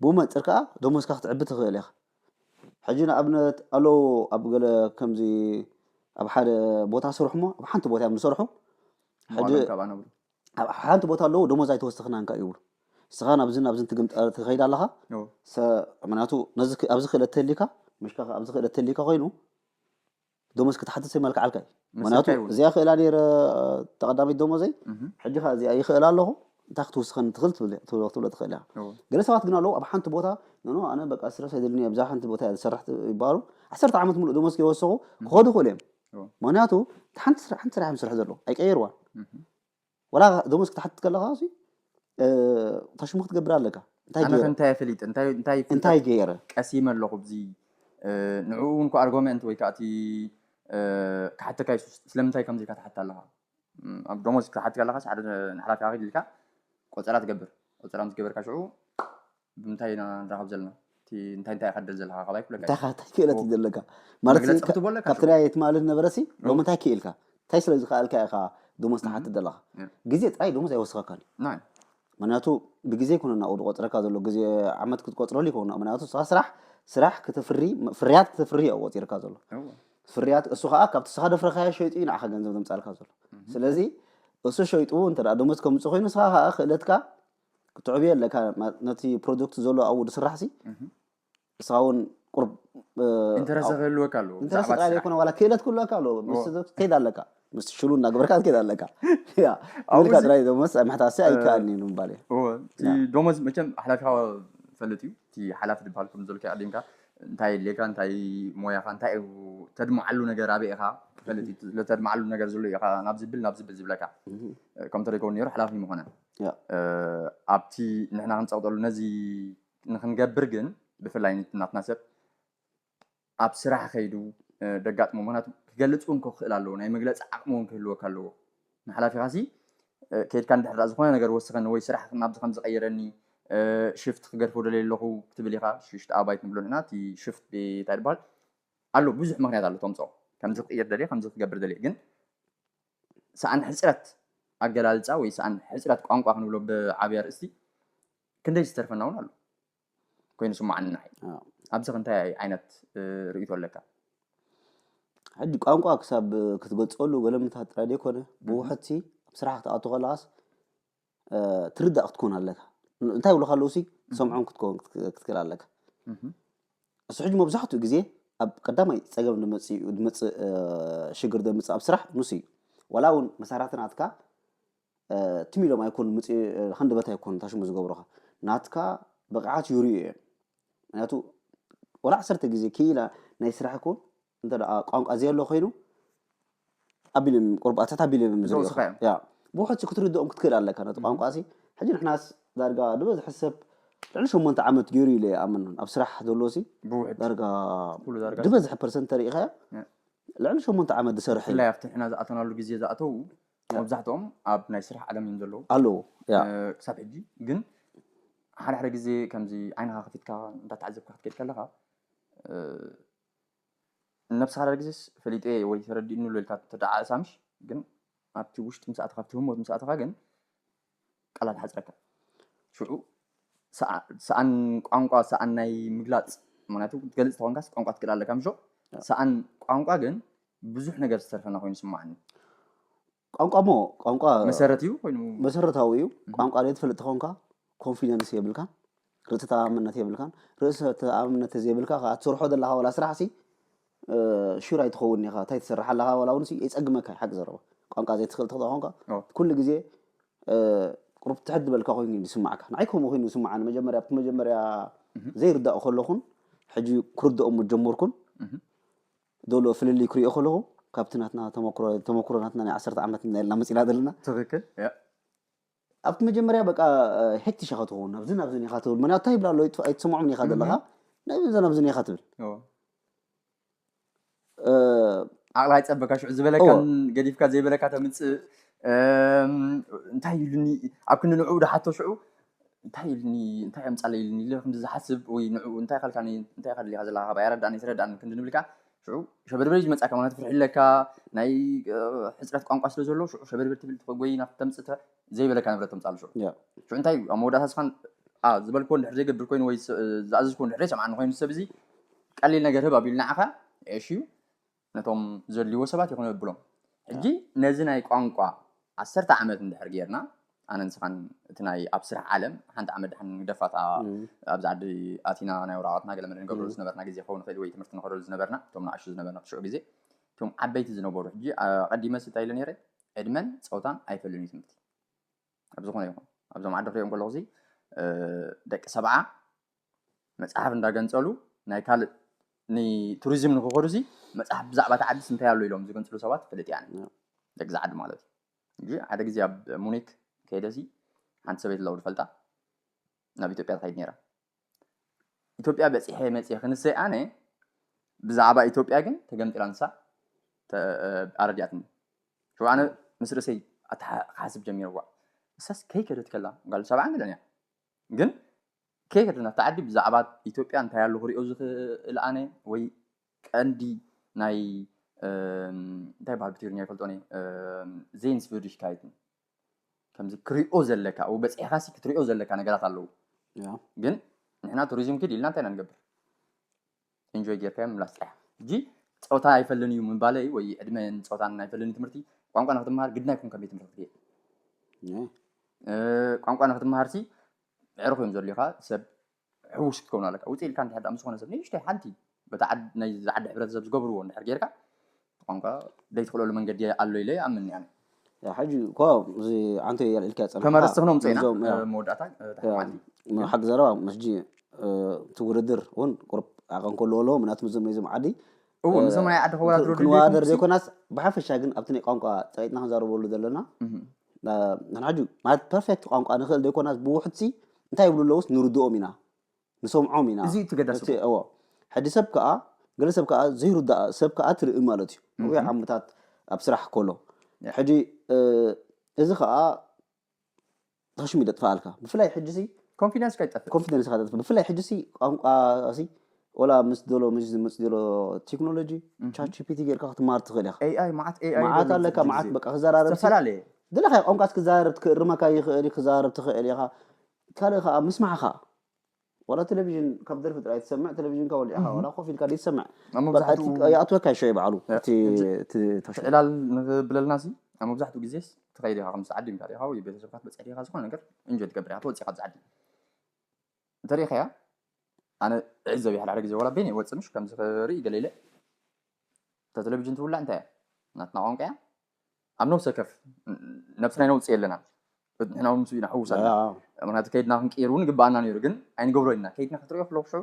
Speaker 2: ብኡ መንጽር ከኣ ደሞዝካ ክትዕቢ ትኽእል ኢኻ። ሕጂ ንኣብነት ኣሎ ኣብ ገለ ከምዚ ኣብ ሓደ ቦታ ስርሑ እሞ ኣብ ሓንቲ ቦታ እዮም ዝሰርሑ ሕጂ
Speaker 1: ኣብ ሓንቲ ቦታ
Speaker 2: ኣለዉ ደሞዝ ኣይተወሰኽናን ከኣ ይብሉ ንስኻ ናብዚ ናብዚ ትግምጠር ትኸይድ ኣለኻ ምክንያቱ ኣብዚ ክእለት ተሊካ ምሽካ ኣብዚ ክእለት ተሊካ ኮይኑ ደሞዝ ክትሓትት መልክዓልካ እዩ ምክንያቱ እዚኣ ክእላ ነረ ተቀዳሚት ደሞዘይ ሕጂ ከ እዚኣ ይክእላ ኣለኹ እንታይ ክትውስኸኒ ትኽእል ትብሎ ትኽእል እያ ገለ ሰባት ግን ኣለዉ ኣብ ሓንቲ ቦታ ኖኖ ኣነ በቃ ስትረስ ኣይደልኒ ኣብዛ ሓንቲ ቦታ እያ ዝሰርሕ ይበሃሉ ዓሰርተ ዓመት ሙሉእ ደሞዝ ከይወሰኹ ክኸዱ ይኽእሉ እዮም ምክንያቱ ሓንቲ ስራሕ እዮም ዝሰርሑ ዘለዉ ኣይቀየርዋን ወላ ደሞዝ ክትሓትት ከለኻ ሲ ታሽሙ ክትገብር ኣለካ እንታይ ኣነ ገይረ እንታይ ኣፈሊጥ
Speaker 1: እንታይ እንታይ ፍልጠት እንታይ
Speaker 2: ገይረ ቀሲመ ኣለኹ ብዚ
Speaker 1: እ፣ ንዕኡ እውን እኮ ኣርጎመንት ወይ ከዓ እቲ እ፣ ክሓተካ እዩ ስ- ስለምንታይ ከምዚ ኢልካ ትሓትት ኣለኻ እም፣ ኣብ ደሞዝ ክትሓትት ከለኻስ ሓደ ንሓላፊኻ ኺድ ኢልካ ቆፀራ ትገብር ቆፀራ ምስ ገበርካ ሽዑ ብምንታይ ኢና ንራኸብ ዘለና እቲ እንታይ እንታይ ኢኻ ትደሊ ዘለኻ ካብ ኣይኩለካ እንታይ ኸ እንታይ ክእለት እዩ ዘለካ
Speaker 2: ማለት መግለጺ ክትቦ ኣለካ ካብቲ ናይ ትማሊ ዝነበረሲ ሎሚ እንታይ ክኢልካ እንታይ ስለ ዝኸኣልካ ኢኻ ደሞዝ ትሓትት ዘለኻ Yeah. ግዜ ጥራይ ደሞዝ ኣይወስኸካን እዩ ናይ
Speaker 1: ምክንያቱ
Speaker 2: ብግዜ ይኮነ ናብኡ ዝቆፅረካ ዘሎ ግዜ ዓመት ክትቆፅረሉ ይኮነ ምክንያቱ ስኻ ስራሕ ስራሕ ክተፍሪ ፍርያት ክተፍሪ እዩ ቆፂርካ ዘሎ እወ ፍርያት እሱ ከዓ ካብቲ ስኻ ደፍረካዮ ሸይጡ እዩ ንዓኻ ገንዘብ ዘምፃልካ ዘሎ ስለዚ እሱ ሸይጡ እንተ ደኣ ደሞዝ ከምፅእ ኮይኑ ስኻ ከዓ ክእለትካ ክትዕብዮ ኣለካ ነቲ ፕሮጀክት ዘሎ ኣብኡ ዝስራሕ ሲ ንስኻ እውን ቁርብ ኢንተረስት ክህልወካ ኣለዎ ኢንተረስት
Speaker 1: ብዛዕባ እቲ ጥራይ ስራሕ። ዘይኮነ ዋላ
Speaker 2: ክእለት ክህልወካ ኣለዎ ምስ ሰብ ትከይድ ኣለካ ምስ ሽሉ እናገበርካ ትከይድ ኣለካ ያ ኣብኡ ኢልካ እዚ- ጥራይ ደሞስ ኣብ ምሕታሲ ኣይከኣልን እዩ ንምባል እዩ እወ፣ እቲ
Speaker 1: ደሞዝ መቸም ሓላፊኻ ፈልጥ እዩ እቲ ሓላፊ ዝበሃል ከም ዘልካ ኣሊንካ እንታይ የድልየካ እንታይ ሞያኻ እንታይ እዩ ተድምዓሉ ነገር ኣበይ ኢኻ ክፈልጥ እዩ እቲ ተድምዓሉ ነገር ዘሎ ኢኻ ናብ ዝብል ናብ ዝብል ዝብለካ ከም ተሪከውን ነይሩ ሓላፊ ምኾነ
Speaker 2: ኣብቲ
Speaker 1: ንሕና ክንጸቕጠሉ ነዚ ንክንገብር ግን ብፍላይ ንቲ ናትና ሰብ ኣብ ስራሕ ከይዱ ደጋጥሞ ምክንያቱ ክገልጽ እውን ክኽእል ኣለዎ ናይ መግለጺ ዓቕሚ እውን ክህልወካ ኣለዎ ንሓላፊኻ ሲ ከይድካ እንድሕር ዳኣ ዝኾነ ነገር ወስኸኒ ወይ ስራሕ ናብዚ ከምዚ ቀይረኒ ሽፍት ክገድፎ ደልየ ኣለኹ ክትብል ኢኻ ሽሽት ኣባይት ንብሎ ንሕና እቲ ሽፍት እንታይ ድበሃል ኣሎ ብዙሕ ምክንያት ኣሎ ተምጽኦ ከምዚ ክቅይር ደልየ ከምዚ ክገብር ደልየ ግን ሰኣን ሕጽረት ኣገላልጻ ወይ ሰኣን ሕጽረት ቋንቋ ክንብሎ ብዓቢ ኣርእስቲ ክንደይ ዝተርፈና እውን ኣሎ ኮይኑ ስማዓኒ ንዓይ ኣብዚ ክንታይ ዓይነት ርእይቶ ኣለካ
Speaker 2: ሕጂ ቋንቋ ክሳብ ክትገልጸሉ ገለምታት ጥራይ ዘይኮነ ብውሕድሲ ኣብ ስራሕ ክትኣቱ ከለኻስ ትርዳእ ክትኮን ኣለካ እንታይ ይብሉካ ኣለዉ ሲ ሰምዖም ክትከውን ክትክእል ኣለካ እሱ ሕጂ መብዛሕትኡ ግዜ ኣብ ቀዳማይ ፀገም ድመፅእ ሽግር ደምፅእ ኣብ ስራሕ ንሱ እዩ ዋላ እውን መሳራቲ ናትካ ትም ኢሎም ኣይኮኑ ምፅ ሃንደበት ኣይኮኑ ታሽሙ ዝገብሩኻ ናትካ ብቕዓት ይርእዩ እዮም ምክንያቱ ወላ ዓሰርተ ግዜ ክኢላ ናይ ስራሕ ኮን እንተ ቋንቋ ዘየሎ ኮይኑ ኣቢሎም ቁርባታት ኣቢሎም እዮም ዝሪኦኻ ያ ብውሕድ ክትርድኦም ክትክእል ኣለካ ነቲ ቋንቋ ሲ ሕጂ ንሕናስ ዳርጋ ዝበዝሐ ሰብ ልዕሊ ሸሞንተ ዓመት ገይሩ ኢለ ይኣምን ኣብ ስራሕ ዘሎ ሲ ዳርጋ
Speaker 1: ዝበዝሐ ፐርሰንት ተሪኢኻዮ
Speaker 2: ልዕሊ ሸሞንተ ዓመት ዝሰርሐ እዩ ኣብቲ ንሕና ዝኣተናሉ
Speaker 1: ግዜ ዝኣተው መብዛሕትኦም ኣብ ናይ ስራሕ ዓለም እዮም ዘለዉ ኣለዉ
Speaker 2: ክሳብ ሕጂ
Speaker 1: ግን ሓደ ሓደ ግዜ ከምዚ ዓይንኻ ከፊትካ እንዳተዓዘብካ ክትከድ ከለኻ ነብስኻ ሓደ ግዜስ ፈሊጠ ወይ ተረዲእኒ ኢልካ ተደዓእሳምሽ ግን ኣብቲ ውሽጢ ምስ ኣተኻ ኣብቲ ህሞት ምስ ኣተኻ ግን ቃላት ሓጽረካ ሽዑ ሰኣን ቋንቋ ሰኣን ናይ ምግላጽ ምክንያቱ ክትገልጽ ተኾንካስ ቋንቋ ትክእል ኣለካ ምሾ ሰኣን ቋንቋ ግን ብዙሕ ነገር ዝተርፈና ኮይኑ ስማዓኒ
Speaker 2: ቋንቋ ሞ ቋንቋ መሰረት እዩ ኮይኑ
Speaker 1: መሰረታዊ እዩ
Speaker 2: ቋንቋ ዘይትፈልጥ ተኾንካ ኮንፊደንስ የብልካ ርእሰ ተኣማምነት የብልካን ርእሰ ተኣማምነት ተዘይብልካ ከዓ ትሰርሖ ዘለካ ዋላ ስራሕሲ ሹር ኣይትኸውን ኢኻ እንታይ ትሰርሕ ኣለካ ዋላ እውን የፀግመካ ሓቂ ዘረባ ቋንቋ ዘይትኽእል ተኽእል ኮንካ ኩሉ ግዜ ቁሩብ ትሕት ዝበልካ ኮይኑ እዩ ዝስማዕካ ንዓይ ከምኡ ኮይኑ ዝስማዓኒ መጀመርያ ኣብቲ መጀመርያ ዘይርዳእ ከለኹን ሕጂ ክርድኦ ጀመርኩን ዘሎ ፍልልይ ክሪኦ ከለኹ ካብቲ ናትና ተመክሮ ናትና ናይ ዓሰርተ ዓመት ናይልና መፂና ዘለና ትክክል
Speaker 1: ኣብቲ
Speaker 2: መጀመርያ በቃ ሕቲ ሸኸ ትኸውን ናብዚ ናብዚ ኒኻ ትብል ምክንያቱ እንታይ ይብላ ኣሎ ኣይትሰምዖም ኒኻ ዘለኻ ናብዚ ናብዚ ኒኻ ትብል
Speaker 1: ዓቕላ ይፀበካ ሽዑ ዝበለካን ገዲፍካ ዘይበለካ ተምፅእ እንታይ ኢሉኒ ኣብ ክንዲ ንዕኡ ድሓቶ ሽዑ እንታይ ኢሉኒ እንታይ ኣምፃለ ኢሉኒ ኢለ ክንዲ ዝሓስብ ወይ ንዕኡ እንታይ ካልካ እንታይ ካልካ ዘለካ ካብ ኣይረዳእኒ ትረዳእኒ ክንዲ ንብልካ ሽዑ ሸበድበድ እዩ ዝመጽኣካ፣ ምኽንያቱ ፍርሒ ኣለካ፣ ናይ ሕጽረት ቋንቋ ስለ ዘሎ፣ ሽዑ ሸበድበድ ትብል ትኾጎይ ናብቲ ተምጽእ ዘይበለካ ንብረት ተምጽኣሉ። ሽዑ ሽዑ እንታይ እዩ ኣብ መወዳእታ ስኻን ኣ ዝበልክዎ እንድሕር ዘይገብር ኮይኑ ወይ ዝኣዘዝክዎ እንድሕር ዘይሰምዓኒ ኮይኑ ሰብ እዚ ቀሊል ነገር ህብ ኣቢሉ ንዓኻ ዒሽ እዩ ነቶም ዘድልይዎ ሰባት ይኹን የብሎም። ሕጂ ነዚ ናይ ቋንቋ ዓሰርተ ዓመት እንድሕር ጌርና ኣነ ንስኻን እቲ ናይ ኣብ ስራሕ ዓለም ሓንቲ ዓመት ድሓን ንግደፋታ ኣብዚ ዓዲ ኣቲና ናይ ወረቓቕትና ገለመለ ንገብረሉ ዝነበርና ግዜ ክኸውን ይኽእል ወይ ትምህርቲ ንኸደሉ ዝነበርና እቶም ንኣሽቱ ዝነበርና ብሽዑ ግዜ እቶም ዓበይቲ ዝነበሩ ሕጂ ኣቐዲመ ስታይ ኢለ ነይረ ዕድመን ፀውታን ኣይፈልን እዩ ትምህርቲ ኣብ ዝኾነ ይኹን ኣብዞም ዓዲ ክሪኦም ከለኹ ደቂ ሰብዓ መፅሓፍ እንዳገንፀሉ ናይ ካልእ ንቱሪዝም ንክኸዱ ሲ መፅሓፍ ብዛዕባ እቲ ዓዲስ እንታይ ኣሎ ኢሎም ዝገንፅሉ ሰባት ይፈልጥ እያ ደቂ ዝዓዲ ማለት እዩ እዚ ሓደ ግዜ ኣብ ሙኒክ ከይደ ሲ ሓንቲ ሰበይቲ ለውዲ ፈልጣ ናብ ኢትዮጵያ ትኸይድ ነይራ ኢትዮጵያ በፂሐ መፅየ ክንሰይ ኣነ ብዛዕባ ኢትዮጵያ ግን ተገምጢላ ንሳ ኣረዲኣትኒ ሽው ኣነ ምስ ርእሰይ ክሓስብ ጀሚርዋ ንሳስ ከይከደት ከላ ጓል ሰብዓ ገለን እያ ግን ከይከደት ናብቲ ዓዲ ብዛዕባ ኢትዮጵያ እንታይ ኣሎ ክሪኦ ዝኽእል ኣነ ወይ ቀንዲ ናይ እንታይ ይበሃል ብትግርኛ ኣይፈልጦን እየ ዜንስቪርዲሽካይት ከምዚ ክሪኦ ዘለካ ኣብኡ በፂሕካ ሲ ክትሪኦ ዘለካ ነገራት ኣለዉ ግን ንሕና ቱሪዝም ክድ ኢልና እንታይ ኢና ንገብር ኢንጆይ ጌርካዮ ምምላስ ጥራሕ እጂ ፀወታ ኣይፈልን እዩ ምባለ እዩ ወይ ዕድመን ፀወታን ኣይፈልን እዩ ትምህርቲ ቋንቋ ንክትምሃር ግድና ይኩም ከም ቤት ትምህርቲ ክትገይር ቋንቋ ንክትምሃር ሲ ዕርኹ እዮም ዘድልዩካ ሰብ ሕዉስ ክትከዉን ኣለካ ዉጽእ ኢልካ እንድሕር ምስ ዝኾነ ሰብ ንእሽተይ ሓንቲ በቲ ዓድ ናይዚ ዝዓዲ ሕብረተሰብ ዝገብርዎ እንድሕር ጌርካ እቲ ቋንቋ ደይትኽእለሉ መንገዲ ኣሎ ኢለ ይኣምን እኔ ኣነ። ሕጂ እኮ
Speaker 2: እዚ ኣንተ ኢልካዮ ጸኒሕካ ተመረጽቲ ክነው ምጽኢና ነዞም
Speaker 1: ያ፣ ኣብ መወዳእታ ድሕሪ ያ፣ መዓልቲ ም- ሓቂ ዘረባ
Speaker 2: ምስ ሕጂ እ፣ እቲ ውድድር እውን ቁሩብ ዓቐን ክህልዎ ኣለዎ ምክንያቱ ምስዞም ናይዞም ዓዲ እው ንዞም ናይ
Speaker 1: ዓዲ ክወዳድሩ ድልየቶም ክንወዳደር ሲ- ዘይኮናስ
Speaker 2: ብሓፈሻ ግን ኣብቲ ናይ ቋንቋ ፀቂጥና ክንዛረበሉ ዘለና እህ፣ ና- ንሕና ሕጂ ማለት ፐርፌክት ቋንቋ ንኽእል ዘይኮናስ ብውሕድ ሲ እንታይ ይብሉ ኣለውስ ንርድኦም ኢና ንሰምዖም ኢና እዚ እዩ እቲ ገዳሲ እቲ እኮ። እዎ
Speaker 1: ሕጂ
Speaker 2: ሰብ ከዓ ገለ ሰብ ከዓ ዘይርዳእ ሰብ ከዓ ትርኢ ማለት እዩ ነዊሕ እህ፣ ዓመታት ኣብ ስራሕ ከሎ ያ። ሕጂ እ፣ እዚ ከዓ ተሽሙ ይጠጥፋኣልካ ብፍላይ ሕጂሲ ኮንፊደንስካ ይጠፍእ
Speaker 1: ኮንፊደንስካ ይጠፍእ ብፍላይ
Speaker 2: ሕጂሲ ቋንቋሲ ወላ ምስ ዶሎ ምስ ዝመጽ ዶሎ ቴክኖሎጂ ቻት ጂፒቲ ጌርካ ክትማር ትኽእል ኢኻ ኤኣይ መዓት ኤኣይ መዓት
Speaker 1: ኣለካ መዓት በቃ
Speaker 2: ክዘራረብ ዝተፈላለየ ዝደለኻዮ
Speaker 1: ቋንቋስ
Speaker 2: ክዛረብ ክእርመካ ይኽእል ክዛረብ ትኽእል ኢኻ ካልእ ከኣ ምስማዕካ ዋላ ቴሌቪዥን ካብ ደርፊ ጥራይ ትሰምዕ ቴሌቪዥንካ ወሊዕኻ ዋላ ኮፍ ኢልካ ዘይትሰምዕ ኣብ በቃ እቲ መብዛሕትኡ ይኣትወካ ሸይ ባዕሉ እቲ እቲ ተሽ
Speaker 1: ዕላል ንብለልና ሲ ኣብ መብዛሕትኡ ግዜስ ትኸይድ ኢኻ ከምስ ዓዲምካ ዲኻ ወይ ቤተሰብካ ክትበጽሕ ዲኻ ዝኾነ ነገር ኢንጆይ ትገብር ኢኻ ተወጺእካ ኣብዚ ዓዲ እንተሪኢኻያ ኣነ ዕዘብ ይሓል ሓደ ግዜ ወላ በይነ ይወጽእ ምሽ ከምዚ ክርኢ ገለ ኢለ እታ ቴሌቪዥን ትውላዕ እንታይ እያ ናትና ቋንቋ እያ ኣብ ነብሲ ወከፍ ነብስና ይነውፅእ ኣለና ንሕና እውን ምስ ኢና ሕውስ ኣለና ምክንያቱ ከይድና ክንቅይር እውን ይግባኣና ነይሩ ግን ኣይንገብሮ ኢና ከይድና ክትሪኦ ከለኩ ሽዑ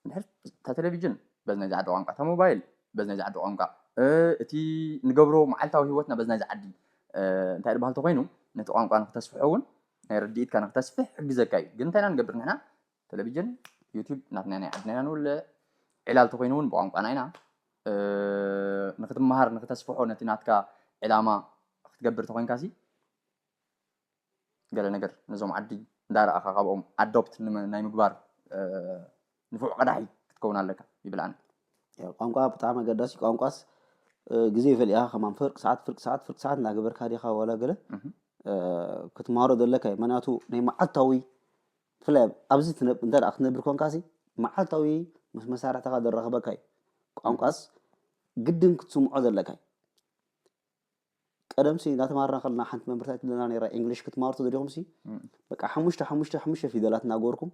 Speaker 1: ድሕር እታ ቴሌቭዥን በዚ ናይዚ ዓዲ ቋንቋ እታ ሞባይል በዚ ናይዚ ዓዲ ቋንቋ እቲ ንገብሮ መዓልታዊ ሂወትና በዚ ናይዚ ዓዲ እንታይ ድበሃል ተኮይኑ ነቲ ቋንቋ ንክተስፍሖ እውን ናይ ርድኢትካ ንክተስፍሕ ይሕግዘካ እዩ ግን እንታይ ኢና ንገብር ንሕና ተለቪጅን ዩቲብ ናትና ናይ ዓድና ኢና ንውልዕ ዕላል ተኾይኑ እውን ብቋንቋና ኢና ንክትመሃር ንክተስፍሖ ነቲ ናትካ ዕላማ ክትገብር ተኾይንካ ሲ ገለ ነገር ነዞም ዓዲ እንዳረኣኻ ካብኦም ኣዶፕት ናይ ምግባር ንፉዕ ቀዳሒ ክትከውን ኣለካ ይብል ኣነ ቋንቋ
Speaker 2: ብጣዕሚ ኣገዳሲ ቋንቋስ ግዜ ይፈልኢኻ ከማን ፍርቂ ሰዓት ፍርቂ ሰዓት ፍርቂ ሰዓት እናገበርካ ዲኻ ዋላ ገለ ክትመሃሮ ዘለካ እዩ ምክንያቱ ናይ መዓልታዊ ብፍላይ ኣብዚ ትነ እንተ ደኣ ክትነብር ኰንካሲ፣ መዓልታዊ ምስ መሳርሕትኻ ዘራኽበካ እዩ። ቋንቋስ ግድን ክትስምዖ ዘለካ እዩ። ቀደምሲ እናተማሃርና ከለና ሓንቲ መምህር እንታይ ትብለና ነይራ፣ ኢንግሊሽ ክትማሃሩ ተደሊኹምሲ በቃ ሓሙሽተ ሓሙሽተ ሓሙሽተ ፊደላት እናገበርኩም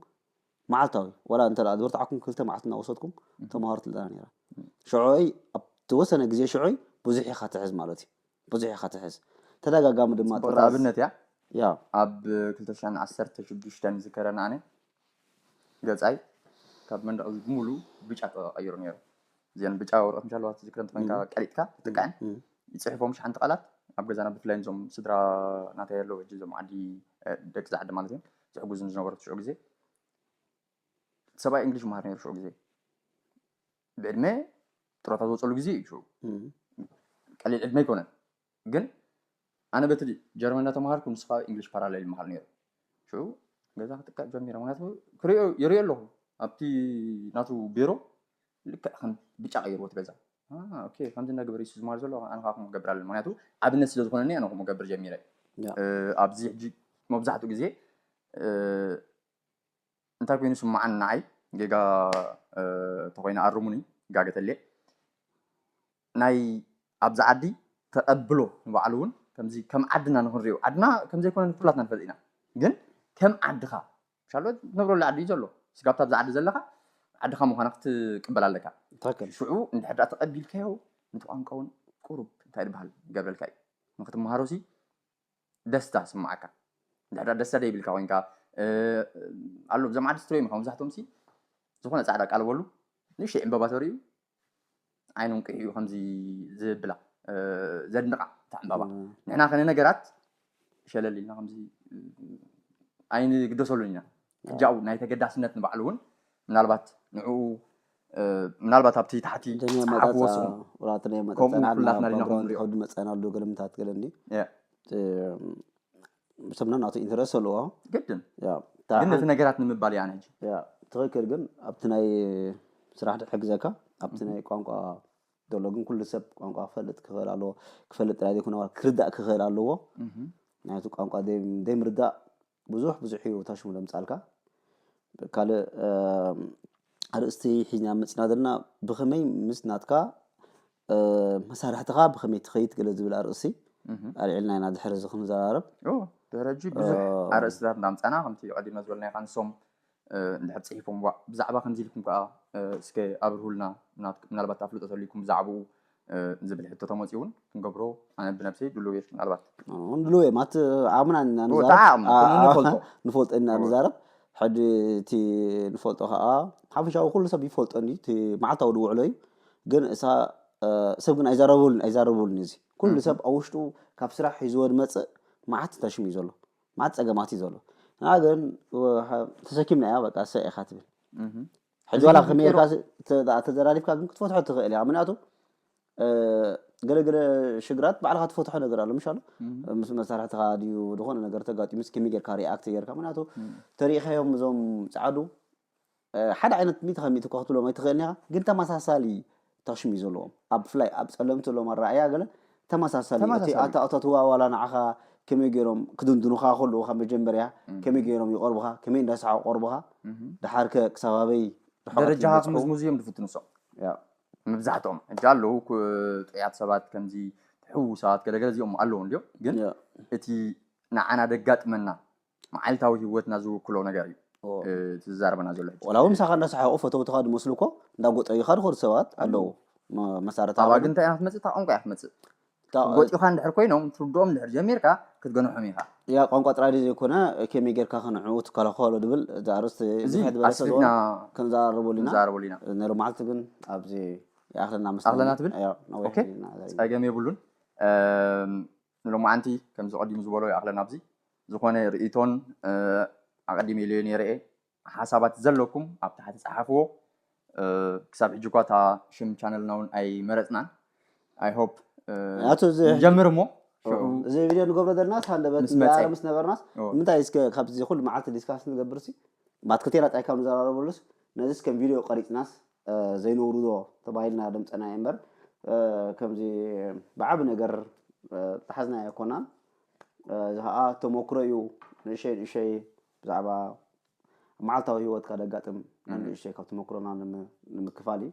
Speaker 2: መዓልታዊ ዋላ እንተ ደኣ ዝበርትዓኩም ክልተ መዓልቲ እናወሰድኩም ተማሃሩ ትብለና ነይራ። ሽዑይ ኣብ ተወሰነ ግዜ ሽዑይ ብዙሕ ኢኻ ትሕዝ ማለት እዩ። ብዙሕ ኢኻ ትሕዝ ተደጋጋሚ ድማ ጽቡቅ ጥራዝ ኣብነት እያ
Speaker 1: ያው ኣብ ክልተ ሽሕን ዓሰርተ ሽዱሽተን ዝከረን ኣነ ገጻይ ካብ መንደቅ እዚ ብምሉ ብጫ ተቀይሩ ነይሩ እዘን ብጫ ወረቀት ምሻ ኣለዋ ትዝክረን ተኮይንካ ቀሪጥካ ትጥቀዐን ይጽሕፎም ሽሓንቲ ቃላት ኣብ ገዛና ብፍላይ ዞም ስድራ ናተይ ኣለዉ ሕጂ ዞም ዓዲ ደቂ ዛዓዲ ማለት እዮም ዝሕጉዙን ዝነበሩ ሽዑ ግዜ ሰብኣይ እንግሊሽ መሃር ነይሩ ሽዑ ግዜ ብዕድመ ጥሮታ ዝወፀሉ ግዜ እዩ ሽዑ ቀሊል ዕድመ ኣይኮነን ግን ኣነ በቲ ጀርመን እንዳተምሃርኩ ንሱ ካብ እንግሊሽ ፓራሌል ይምሃር ነይሩ ሽዑ ገዛ ክጥቀዕ ጀሚረ ምክንያቱ ክሪኦ ይሪኦ ኣለኹ ኣብቲ ናቱ ቢሮ ልክዕ ከም ብጫ ቀይርዎ እቲ ገዛ ኦኬ ከምዚ እንዳገበረ እዩ ዝማር ዘሎ ኣነ ከዓ ከምኡ ገብር ኣለኒ ምክንያቱ ኣብነት ስለ ዝኾነኒ ኣነ ከምኡ ገብር ጀሚረ ኣብዚ ሕጂ መብዛሕትኡ ግዜ እንታይ ኮይኑ ይስማዓኒ ንዓይ ጌጋ ተኾይነ ኣርሙኒ ጋገ ተልየ ናይ ኣብዚ ዓዲ ተቀብሎ ንባዕሉ ውን ከምዚ ከም ዓድና ንክንሪኦ ዓድና ከምዘይኮነ ኩላትና ንፈልጥ ኢና ግን ከም ዓድኻ ሻሎ ትነብረሉ ዓዲ እዩ ዘሎ ስጋብታ ኣብዚ ዓዲ ዘለኻ ዓድኻ ምዃና ክትቅበል ኣለካ ትክክል ሽዑ እንድሕር ደኣ ተቀቢልካዮ ነቲ ቋንቋ ውን ቁሩብ እንታይ ድበሃል ይገብረልካ እዩ ንክትመሃሮ ሲ ደስታ ስማዓካ ድሕዳ ደስታ ደይብልካ ኮንካ ኣሎ ብዞም ዓዲ ስትረዮም ኢኻ መብዛሕቶም ሲ ዝኾነ ጻዕዳ ቃል በሉ ንእሽተይ ዕምበባ ተርእዩ ዓይኖም ቅይኡ ከምዚ ዝብላ ዘድንቓ እታ ዕምበባ ንሕና ከነ ነገራት ሸለል ኢልና ከምዚ ኣይንግደሰሉን ኢና ቅጃኡ ናይ ተገዳስነት ንባዕሉ እውን ምናልባት ንዕኡ ምናልባት ኣብቲ ታሕቲ ፀሓፍዎ
Speaker 2: ስሙ ከምኡ ኩላትና ዲና ክንሪኦ ከብዲ መፀን ኣሉ ገለ ምታት ገለ እንዲ ሰብና ናቱ ኢንተረስ ኣለዎ ግድን
Speaker 1: ግን ነቲ ነገራት ንምባል እያ ነጂ ትኽክል ግን
Speaker 2: ኣብቲ ናይ ስራሕ ድሕግዘካ ኣብቲ ናይ ቋንቋ ዘሎ ግን ኩሉ ሰብ ቋንቋ ክፈልጥ ክኽእል ኣለዎ ክፈልጥ ጥራይ ዘይኮነ ክርዳእ ክኽእል ኣለዎ ናይቲ ቋንቋ ዘይምርዳእ ብዙሕ ብዙሕ እዩ እታ ሽሙ ለምጻልካ ካልእ ኣርእስቲ ሒዝና መጽና ዘለና ብኸመይ ምስ ናትካ መሳርሕትኻ ብኸመይ ትኸይድ ገለ ዝብል ኣርእሲ ኣልዒልና ኢና ድሕሪ እዚ ክንዘራረብ ድሕረጂ ብዙሕ
Speaker 1: ኣርእስታት እናምፃና ከምቲ ቀዲመ ዝበልናይካ ንሶም እንድሕር ጽሒፎም ዋእ ብዛዕባ ከምዚ ኢልኩም ከኣ እስከ ኣብርሁልና ምናልባት ኣፍልጦ ተልይኩም ብዛዕባኡ ዝብል ሕቶ ተመጽኡ እውን ክንገብሮ ኣነ ብነብሰይ ድሉው እየ ምናልባት ድሉው እየ ማለት
Speaker 2: ዓቕምና ኢና ንዛረብ ንፈልጦ ኢና ንዛረብ ሕጂ እቲ ንፈልጦ ከዓ ሓፈሻዊ ኩሉ ሰብ ይፈልጦ እዩ እቲ መዓልታዊ ድውዕሎ እዩ ግን እሳ ሰብ ግን ኣይዛረበሉን ኣይዛረበሉን እዚ ኩሉ ሰብ ኣብ ውሽጡ ካብ ስራሕ ሒዝዎ ዝመፅእ መዓት ተሽም እዩ ዘሎ ማት ጸገማት እዩ ዘሎ እና ግን ተሰኪምናያ በቃ ሰ ኢኻ ትብል ሕጂ ዋላ ከመይርካ ተዘራሪብካ ግን ክትፈትሖ ትኽእል እያ ምክንያቱ ገለገለ ሽግራት ባዕልካ ትፈትሖ ነገር ኣሎ ምሻሉ ምስ መሳርሕትኻ ድዩ ዝኾነ ነገር ተጋጢሙ ምስ ከመይ ጌርካ ሪኣክት ጌርካ ምክንያቱ ተሪኢኻዮም እዞም ፃዓዱ ሓደ ዓይነት ሚእቲ ካብ ሚእቲ እኳ ክትብሎም ኣይትኽእልን ኢኻ፣ ግን ተመሳሳሊ ተሽም እዩ ዘለዎም። ኣብ ብፍላይ ኣብ ጸለምቲ ዘለዎም ኣረኣእያ ገለ ተመሳሳሊ እዩ። እቲ ተመሳሳሊ እዩ። ኣታ ኣታ እቲ ዋላ ዋላ ንዓኻ ከመይ ገይሮም ክድንድኑኻ ከለዉ ካብ መጀመርያ ከመይ ገይሮም ይቐርቡኻ፣ ከመይ እንዳሰሓቑ ይቐርቡኻ፣ ደሓርከ ክሳብ ኣበይ ርሕቐት ደረጃኻ ይበጽሑ።
Speaker 1: ክምዝምዙ እዮም ዝፍትኑ እሶም ያእ መብዛሕትኦም። ሕጂ ኣለዉ ክ ጥዑያት ሰባት ከምዚ ሕዉሳት ገለ ገለ እዚኦም ኣለዉ እንድዮም፣ ግን ያእ እቲ ንዓና ደጋጥመና መዓልታዊ ሂወትና ዝውክሎ ነገር እዩ እቲ ዝዛረበና ዘሎ ሕጂ። ዋላ ውን ምሳኻ እንዳሰሓቑ
Speaker 2: ፈተውትኻ ዝመስሉ እኮ እንዳ ጎጠዩኻ ዝኸዱ ሰባት ኣለዉ መሳርሕቲ ኣባጊ እንታይ እያ ክትመጽእ እታ
Speaker 1: ቋንቋ እያ ክትመጽእ ክጎጥዩኻ እንድሕር ኮይኖም ትርድኦም እንድሕር ጀሚርካ ክትገንሖም ኢኻ። ያ ቋንቋ ጥራይ ድዩ
Speaker 2: ዘይኮነ ከመይ ጌርካ ከንዕኡ ትከላኸሎ ዝብል እዚ ኣርእስቲ እዚ ብዝሕ ዝበለ ስለ ዝኾነ
Speaker 1: ኣስፊሕና ክንዛረበሉ
Speaker 2: ኢና ክንዛረበሉ ኢና። ናይ ሎሚ መዓልቲ ግን ኣብዚ ይኣኽለና መስለኒ ኣኽለና ትብል? ኣያ ነዊሕ
Speaker 1: ኦኬ፣ ኢና ጸገም የብሉን። እም፣ ንሎማዓንቲ ከምዚ ቀዲሙ ዝበሎ ይኣክለና ኣብዚ ዝኮነ ሪኢቶን ኣቀዲመ ኢለዮ ነይረ እየ ሓሳባት ዘለኩም ኣብ ታሕቲ ጸሓፍዎ ክሳብ ሕጂ እኳ እታ ሽም ቻነልና ውን ኣይመረጽናን i hope ኣቶ እዚ ሕጂ
Speaker 2: ንጀምር እሞ
Speaker 1: ሽዑ እዚ ቪድዮ
Speaker 2: ንገብሮ ዘለናስ ሃንደበት ምስ መጸ። ንዘራረብ ምስ ነበርናስ ኦ። ንምንታይ እስከ ካብዚ ኩሉ መዓልቲ ዲስካስ ንገብርሲ ማትከቴላ ጣይካብ ንዘራረበሉስ ነዚስ ከም ቪድዮ ቀሪጽናስ ዘይነውርዶ ተባሂልና ደምጸና እየ እምበር ከምዚ ብዓቢ ነገር ዝሓዝናዮ ኣይኮናን። እዚ ከኣ ተመክሮ እዩ ንእሸይ ንእሸይ ብዛዕባ መዓልታዊ ህይወትካ ደጋጥም ንእሽተይ ካብ ተመክሮና ንምክፋል እዩ።